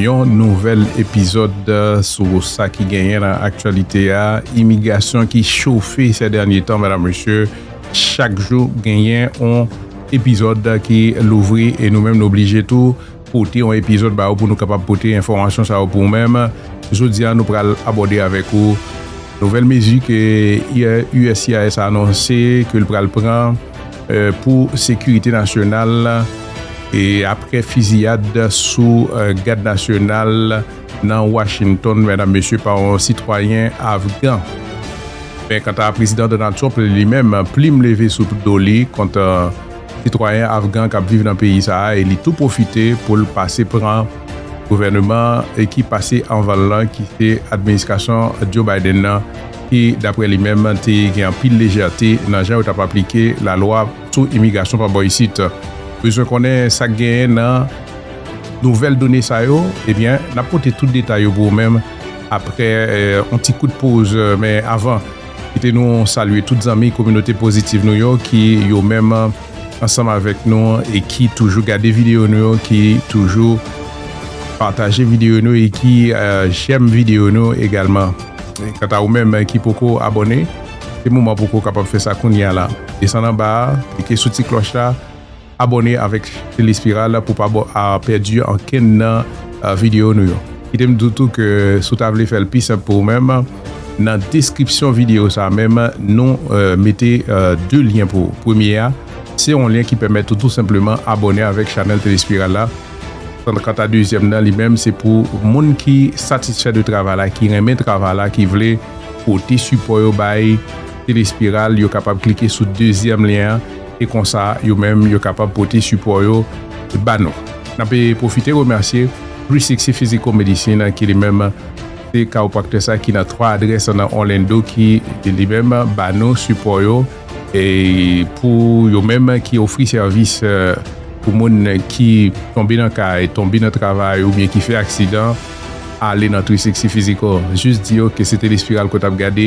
Yon nouvèl epizòd sou sa ki genyen nan aktyalite a, imigrasyon ki chofe sè dènye tan medam mesye, chak jou genyen yon epizòd ki louvri e nou menm nou oblije tou pote yon epizòd ba ou pou nou kapab pote enfòmasyon sa yo pou ou menm, jodi a nou pral abòde avèk ou nouvèl mezi ke uscis anonse ke l pral pran pou sekirite nasyonal apre fiziyad sou gad nasyonal nan Washington pa yon sitwayen afgan. Men kanta Prezidan Donald Trump li menm, plim leve sou do li kont sitwayen afgan k ap viv nan peyi sa a e li tou pwofite pou l pase pran gouvèneman ki pase anvan l lan ki se administrasyon Joe Biden nan. ki daprè li menm te gen anpil lejète nan jan yo tap aplike lalwa sou imigrasyon pa bò isit. Bezwen konnen sak genyen nan nouvèl done sa yo? Ebyen nap pote tout detay yo pou ou menm aprè yon ti kout poz men avan kite nou salye tout zanmi kominote pozitiv nou yo ki yo menm. ansanm avèk nou an e ki toujou gade videyo nou yo, ki toujou pataje videyo nou e ki jèm videyo nou egalman. Kanta ou menm ki poko abòne, se moman pou ou kapab fè sa kounye a la. Desann anba a, klike sou ti klòch la, abòne avèk Telespiral pou w pa pèdi ankenn nan videyo nou yo. Kite m di w tou ke si w ta vle fè l pi senp pou ou menm, Nan deskripsyon videyo sa menm nou mete 2 lyen pou ou. Premye a, se yon lyen ki pèmèt ou tou senpleman abòne avèk chanèl Telespiral la. Kanta dezyèm nan li menm se pou moun ki satisfè de travay la, ki renmen travay la, ki vle pote sipò yo bay Telespiral, yo kapab klike sou dezyèm lyen an e konsa yo menm yo kapab pote sipò yo ba nou. N ape pwofite remèsye Three Sixty Physical Medicine ki li menm. Se kawopraktè sa ki nan 3 adrès nan Orlando ki li menm ba nou sipò yo pou yo menm ki ofri sèvis pou moun ki tonbe nan kay, tonbe nan travay oubyen ki fè aksidan ale nan 360 Physical. Jis di yo ke se Telespiral ke w t ap gade.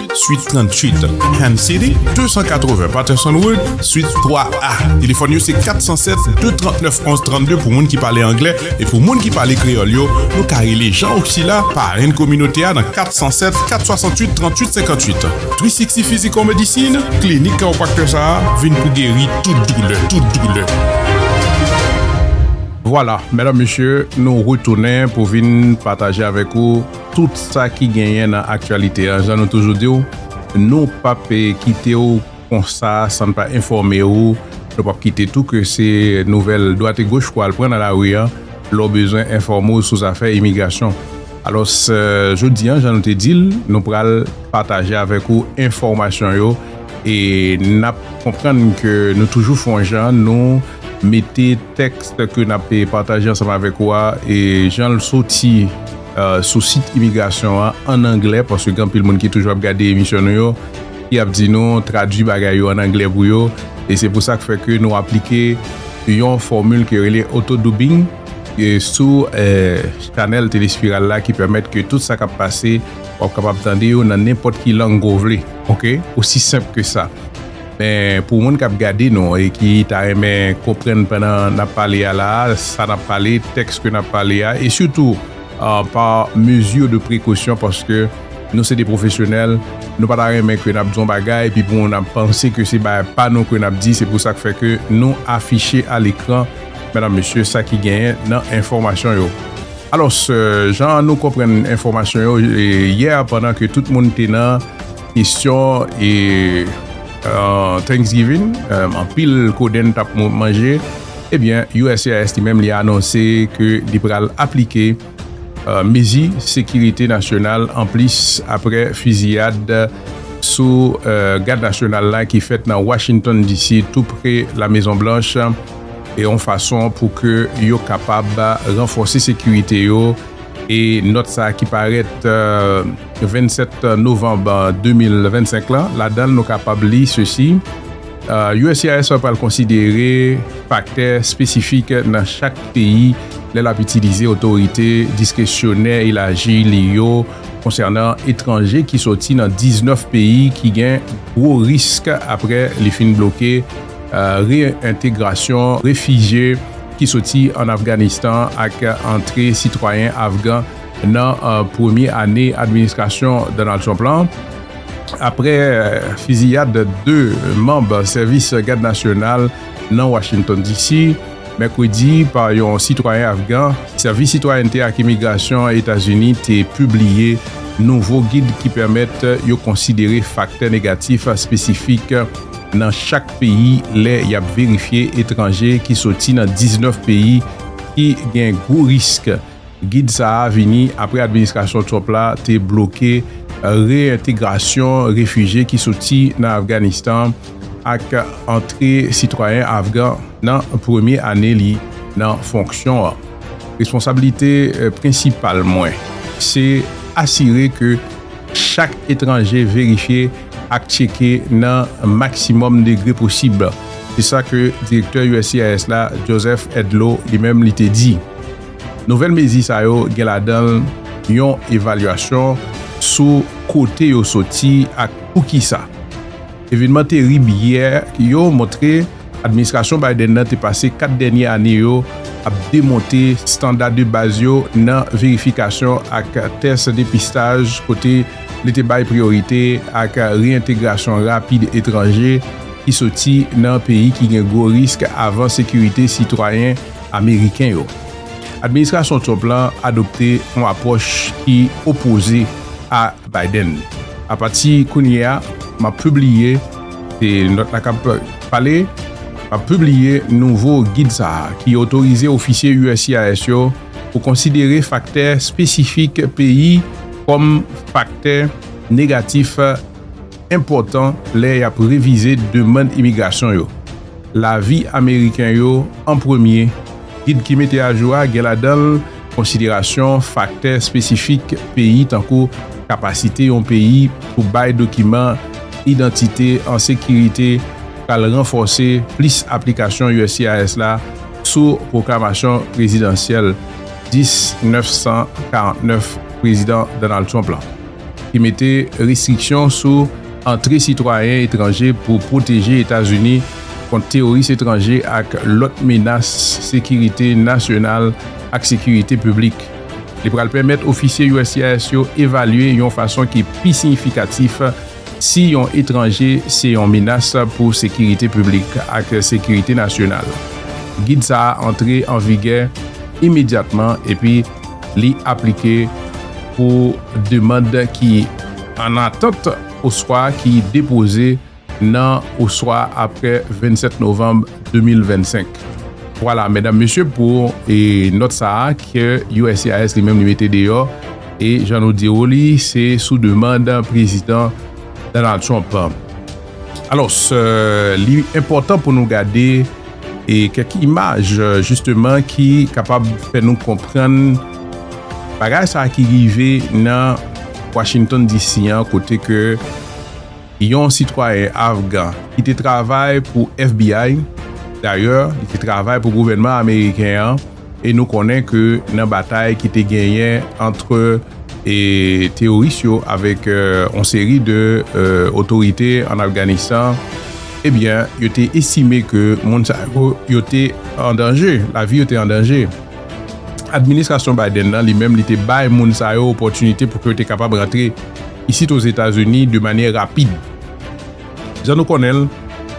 Suite 38, Ham City, 280 Patterson Road, Suite 3A. Telefòn yo se 407-239-1132 pou moun ki pale anglè e pou moun ki pale kreyòl yo, nou ka rele Jean Oxila, parenn kominote a nan 407-468-3858. 360 Physical Medicine, klinik kawopraktè sa a vin pou geri tout doulè, tout doulè. Vwala, medam mesye, nou retounen pou vin pataje avèk ou. tout sa ki genyen nan aktyalite an jan nou toujou di w nou pap kite w konsa san n pa enfòme w nou pap kite tou ke se nouvèl dwat e goch pou w al pran nan lari an lè w bezwen enfòme w sou zafè imigrasyon alòs jodi an jan nou te di l nou pral pataje avèk ou enfòmasyon yo e n ap konprann ke nou toujou fè yon jan nou mete tèks ke n ap pataje ansanm avèk ou a e jan l soti. sou sit imigrasyon an an anglè paske gen anpil moun ki toujou ap gade emisyon nou yo ki ap di nou tradui bagay yo an anglè pou yo e se pou sa k fè ke nou aplike yon fòmil ki rele oto doubing e sou chanèl telespiral la ki pèmèt ke tout sa k ap pase w ap kapab tande yo nan nenpòt ki lang ke w vle ok osi senp ke sa. Men pou moun kap gade nou e ki ta renmen konprann pandan nap pale a la a, sa nap pale, tèks ke nap pale a e sitou pa mezi de prekosyon paske nou se de pwofesyonèl, nou pa ta renmen ke nap di yon bagay epi pou moun ap panse ke se bagay pa nou ke nap di, se pou sa k fè ke nou afiche a lekran, medam mesye, sa ki genyen nan enfòmasyon yo. Alòs, jan nou konprann enfòmasyon yo yè pandan ke tout moun te nan. Kesyon e Thanksgiving, anpil kodenn t ap manje, ebyen uscis li menm li anonse ke li pral aplike mezi sekirite nasyonal anplis apre fiziyad sou Gad Nasyonal la ki fèt nan Washington DC tou pre La Mezon Blanch e yon fason pou ke yo kapab ranfòse sekirite yo e nòt sa ki parèt 27 novanm 2025 la, ladan l nou kapab li sesi, uscis pral konsidere faktè espesifik nan chak peyi lè l ap itilize otorite diskresyonè elaji li yo konsènan etranje ki soti nan 19 peyi ki gen gwo risk apre li fin bloke reyentegrasyon refijye ki soti ann Afganistan ak antre sitwayen afgan Nan premye ane administrasyon Donald Trump la, apre fiziyad 2 manb sèvis Gad Nasyonal nan Washington, DC. Mèkredi pa yon sitwayen afgan, Sèvis Sitwayènte ak Imigrasyon Etazini te pibliye nouvo gid ki pèmèt yo konsidere faktè negatif espesifik nan chak peyi lè y ap verifye etranje ki soti nan 19 peyi ki gen gwo risk Gid sa a vini apre administrasyon Trump la te bloke reyentegrasyon refije ki soti nan Afganistan ak antre sitwayen afgan nan premye ane li nan fonksyon an. Responsablite prensipal mwen se asire ke chak etranje verifye ak tcheke nan maksimòm degre posib, se sa ke direktè uscis la, Joseph Edlow, li menm li te di. Nouvèl mezi sa yo gen ladan yon evalyasyon sou kote yo soti ak poukisa. Evenman terib yè yo montre administrasyon Biden nan te pase 4 dènye ane yo ap demonte standa de baz yo nan verifikasyon ak tès depistaj kote li te bay priyorite ak reyentegrasyon rapid etranje ki soti nan peyi ki gen gwo risk avan sekirite sitwayen ameriken yo. Administrasyon Trump la adopte yon apwòch ki opoze a Biden. A pati kounye a, m ap pibliye, se nòt la k ap pale, m ap pibliye nouvo gid sa a ki otorize ofisye uscis yo pou konsidere faktè espesifik peyi kòm faktè negatif. enpòtan lè y ap revize demann imigrasyon yo. Lavi Ameriken yo an premye, Gid ki mete ajou a gen ladan l konsiderasyon faktè espesifik peyi tankou kapasite yon peyi pou bay dokiman idantite an sekirite pral ranfòse plis aplikasyon uscis la sou pwoklamasyon prezidansyèl 10 949 Prezidan Donald Trump la. ki mete restriksyon sou antre sitwayen etranje pou pwoteje Etazini kont teworis etranje ak lòt menas sekirite nasyonal ak sekirite piblik. Li pral pèmèt ofisye uscis yo evalye yon fason ki pi siyifikatif si yon etranje se yon menas pou sekirite piblik ak sekirite nasyonal. Gid sa a antre an vigè imedyatman epi. li aplike pou demand ki annatant oswa ki depoze nan oswa apre 27 novanm 2025. Vwala, medam, mesye, pou nòt sa a ke uscis li menm li mete deyò e jan nou di ou li se sou demand Prezidan Donald Trump. Alòs, li enpòtan pou nou gade. e kèk imaj jisteman ki kapab fè nou konprann bagay sa ki rive nan Washington DC an kote ke yon sitwayen afgan ki te travay pou FBI dayè li te travay pou gouvènman ameriken an E nou konnen ke nan batay ki te genyen antre teworis yo avèk yon seri de otorite an Afganistan, ebyen yo te estime ke moun sa yo te an danje, lavi yo te an danje. Administrasyon Biden nan li menm li te bay moun sa yo opòtinite pou ke yo te kapab rantre isit Ozetazini de manyè rapid. Jan nou konnen l,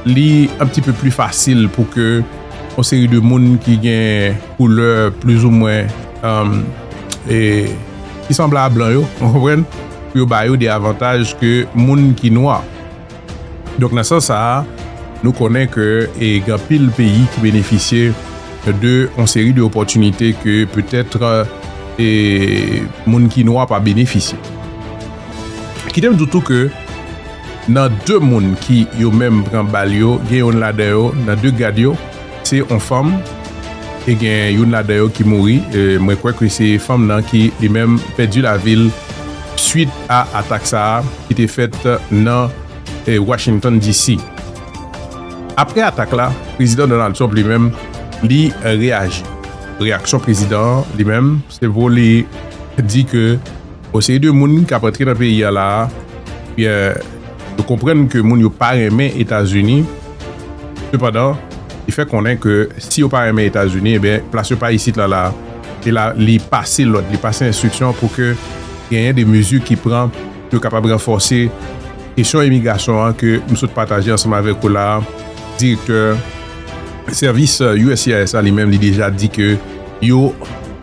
li an pti pe pli fasil pou ke yon seri de moun ki gen koulè plizoumwen ki sanble a blan yo, ou konprann, pou yo ba yo de avantaj ke moun ki nwa. Donk nan sans sa a, nou konnen ke gen anpil peyi ki benefisye de yon seri de opòtinite ke petèt moun ki nwa pa benefisye. Kite m di w tou ke Nan 2 moun ki yo menm pran bal yo gen youn ladan yo nan 2 gad yo se on fanm e gen youn ladan yo ki mouri mwen kwè ke se fanm nan ki li menm pèdi lavil swit a atak sa a ki te fèt nan Washington DC. Aprè atak la prezidan Donald Trump li menm li reyaji reyaksyon prezidan an li menm se pou li di ke Yon seri de moun kap antre nan peyi a la a, ebyen yo konprann ke moun yo pa renmen Etazini, sepandan li fè konnen ke si yo pa renmen Etazini ebyen plas yo pa isit la la a, e la li pase lòd, li pase enstriksyon pou ke genyen de mezi ki pran pou yo kapab ranfòse kesyon imigrasyon an ke m sot pataje ansanm avèk ou la a, direktè sèvis uscis la li menm li deja di ke yo.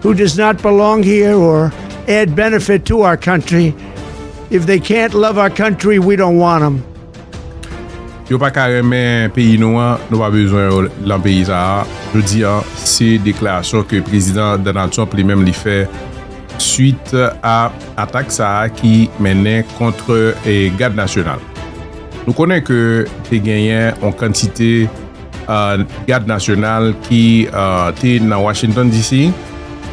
who does not belong here or add benefit to our country, if they can't love our country we don't want them. Yo pa ka renmen peyi nou an, nou pa bezwen yo lan peyi sa a, jodi an, se deklarasyon ke Prezidan Donald Trump li menm li fè swit a atak sa a ki mennen kont Gad Nasyonal. Nou konnen ke te genyen yon kantite Gad Nasyonal ki te nan Washington DC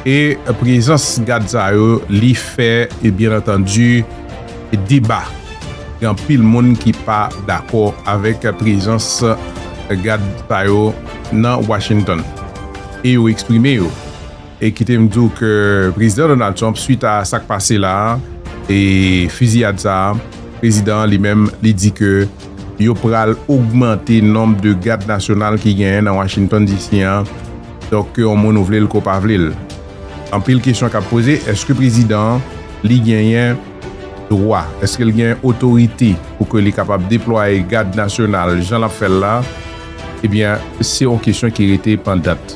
e prezans gad sa yo li fè e byen antandi deba gen anpil moun ki pa dakò avèk prezans gad sa yo nan Washington e yo eksprime yo e kite m di w ke Prezidan Donald Trump swit a sa k pase la e fiziyad sa a Prezidan an li menm li di ke yo pral ogmante nonb de gad nasyonal ki genyen nan Washington DC an, donk ke yon moun ou vle l ke w pa vle l. Anpil kesyon kap poze, eske prezidan an li genyen dwa, eske l genyen otorite pou ke li kapab deplwaye gad nasyonal jan lap fè l la, ebyen se yon kesyon ki rete pandant.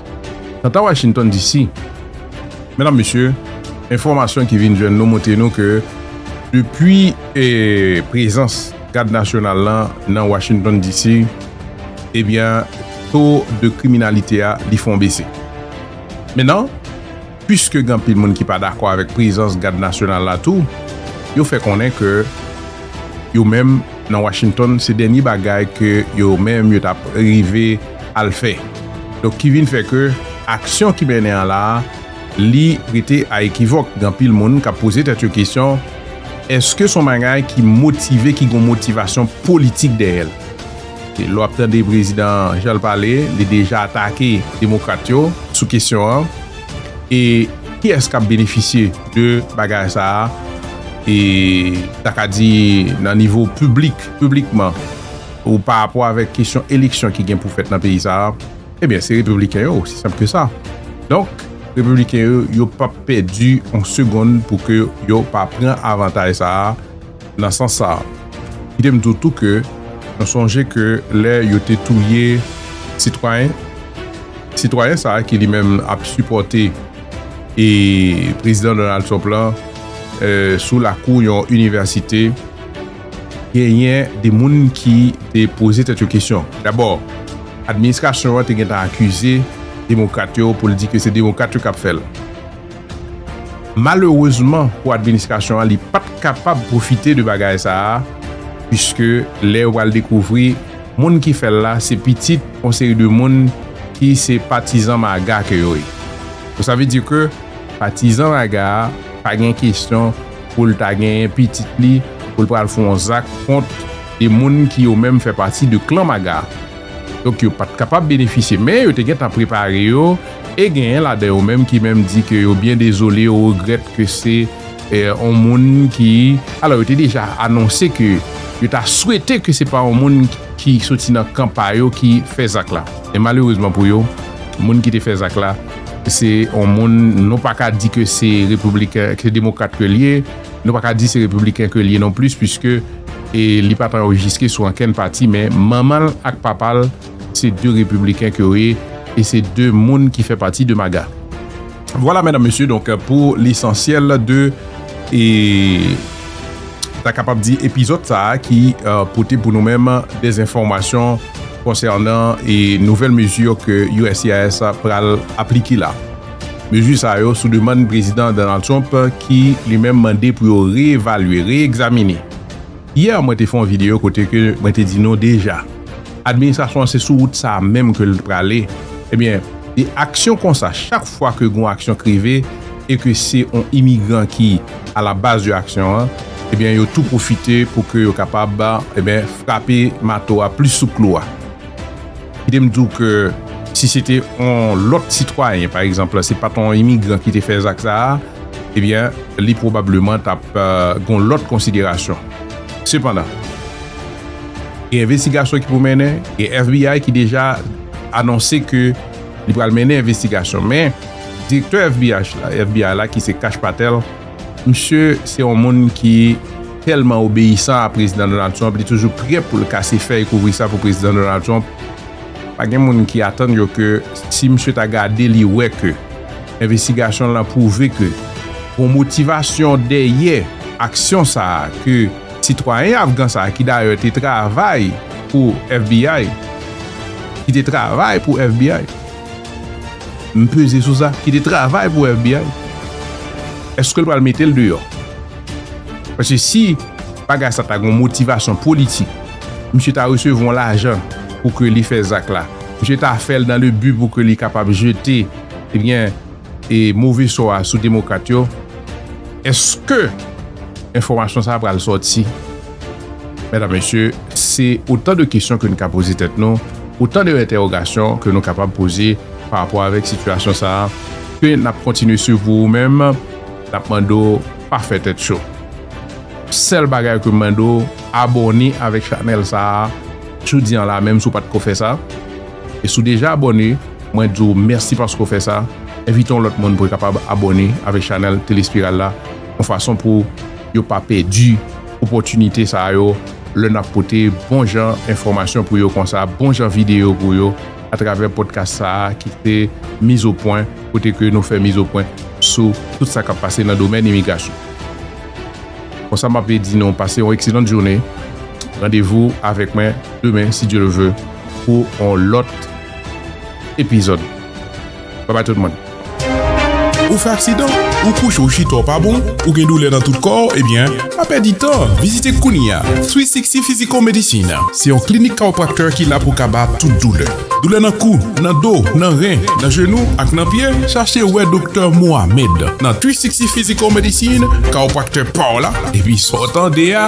Kanta Washington DC, medam mesye, enfòmasyon ki vin jwenn nou montre nou ke depi prezans. Gad Nasyonal lan nan Washington DC, ebyen to de kriminalite a li fon bese. Men nan, pwiske gen anpil moun ki pa dakò avèk prezans Gad Nasyonal la tou, yo fè konnen ke yo menm nan Washington se dènye bagay ke yo menm yo tap rive al fè. Donk ki vin fè ke aksyon ki mennen an la, li rete a ekivòk. Gen anpil moun kap poze tèt yo kesyon. Eske son bagay ki motive ki gon motivasyon politik dèyèl? Ke lè wap tande prezidan janl pale li deja atake demokrat yo sou kesyon an e kiyès kap benefisye de bagay sa a e ta ka di nan nivo piblik piblikman ou pa rapò avèk kesyon eleksyon ki gen pou fèt nan peyi sa a? Ebyen se repibliken yo osi senp ke sa. Donk repibliken yo yo pap pèdi yon segonn pou ke yo pa pran avantay sa a nan sans sa a. Kite m di w tou ke nou sonje ke lè yo te touye sitwayen, sitwayen sa a ki li menm ap sipòte e prezidan Donald Trump lan sou lakou yon inivèsite, Genyen de moun ki te poze tèt yo kesyon. Dabò, administrasyon an te gentan akize demokrat yo pou l di ke se demokrat yo k ap fè l. Malerezman pou administrasyon an, li pa t kapab pwofite de bagay sa a, puiske lè yo pral dekouvri moun ki fè l la se pitit yon seri de moun ki se patizan MAGA ke yo ye. Donk sa vle di ke patizan MAGA pa gen kesyon. pou l ta genyen pitit li pou l pral fon yon zak kont 2 moun ki yo menm fè pati de klan Maga. Donk yo pat kapab benefisye men yo te gentan prepare yo e genyen ladan yo menm ki menm di ke yo byen dezole yo regrèt ke se yon moun ki alò yo te deja anonse ke yo ta swete ke se pa yon moun ki soti nan kan pa yo ki fè zak la men malerezman pou yo. Moun ki te fè zak la se yon moun nou pa ka di ke se repibliken, ke se demokrat ke li ye, nou pa ka di se repibliken ke li ye non plis puiske li pa t anrejiske sou ankenn pati men manman l ak papa l se 2 repibliken ke yo ye e se 2 moun ki fè pati de MAGA. Vwala mèdam mesye donk pou lesansyèl de e ta kapab di epizòd sa a ki pote pou nou menm dèz enfòmasyon konsènan e nouvèl mezi ke uscis pral aplike la. Mezi sa yo sou demann prezidan Donald Trump ki li menm mande pou yo reevalye, reegzamine. Hier mwen te fè yon video kote ke mwen te di nou deja administrasyon an se sou wout sa a menm ke l t prale ebyen de aksyon konsa chak fwa ke gon aksyon k rive e ke se yon imigran ki a la baz de aksyon an ebyen yo tou pwofite pou ke yo kapab ebyen frape mato a plis sou klou a. Kite m di w ke si se te yon lòt sitwayen, pa egzanp, se pa t yon imigran ki te fè zak sa a, ebyen, li pwobableman t ap gen yon lòt konsiderasyon. Sepandan, gen envestigasyon ki pou mennen, gen FBI ki deja anonse ke li pral mennen envestigasyon. Men, direktè FBI la, ki se Kash Patel, Misye se yon moun ki tèlman obeyisan a Prezidan Donald Trump, li toujou prè pou l kase fèy kouvri sa pou Prezidan Donald Trump. Pa gen moun ki atann yo ke si misye ta gade li wè ke envestigasyon l lan pwouve ke gon motivasyon dèyè aksyon sa a ke sitwayen afgan sa a ki dayè te travay pou FBI, ki te travay pou FBI. M peze sou sa ki te travay pou FBI. Eske l pral mete l deyò? Paske si bagay sa ta gen yon motivasyon politik, misye ta resevwa yon lajan pou ke li fè zak la. Misye ta fè l nan le bi pou ke li kapab jete, ebyen, e move sò a sou demokrat yo. Eske enfòmasyon sa pral sòti? Medam, Mesye, se otan de kesyon ke nou ka poze tèt nou, otan de entèwogasyon ke nou kapab poze pa rapò avèk sitiyasyon sa a, ke n ap kontinye swiv pou ou menm, n ap mande w pa fè tèt cho. Sèl bagay ke m mande w, abòne avèk chanèl sa a jodi an la menm si w pa t ko fè sa. E si w deja abòne, mwen di w mèsi paske w fè sa, envite yon lòt moun pou l kapab abòne avèk chanèl Tele Espiral la yon fason pou yo pa pèdi opòtinite sa yo lè n ap pote bon jan enfòmasyon pou yo konsa bon jan videyo pou yo atravè podcast sa a ki se Mizopwen kote ke nou fè mizopwen sou tout sa k ap pase nan domèn imigrasyon. Konsa m ape di nou pase yon ekselant joune, randevou avèk mwen demen si Dye le veut pou yon lòt epizòd. Bye bye tout moun. Ou fè aksidan? Ou kouche ou chita w pa bon? Ou gen doulè nan tout kò w? Ebyen, pa pèdi tan, vizite kounye a Sweet Sixty Physical Medicine. Se yon klinik kawopraktè ki la pou kaba tout doulè. Doulè nan kou, nan do, nan ren, nan jenou ak nan pye? Chache wè Doktè Mohamed nan Sweet Sixty Physical Medicine, kawopraktè pa w la, epi sa w tande a.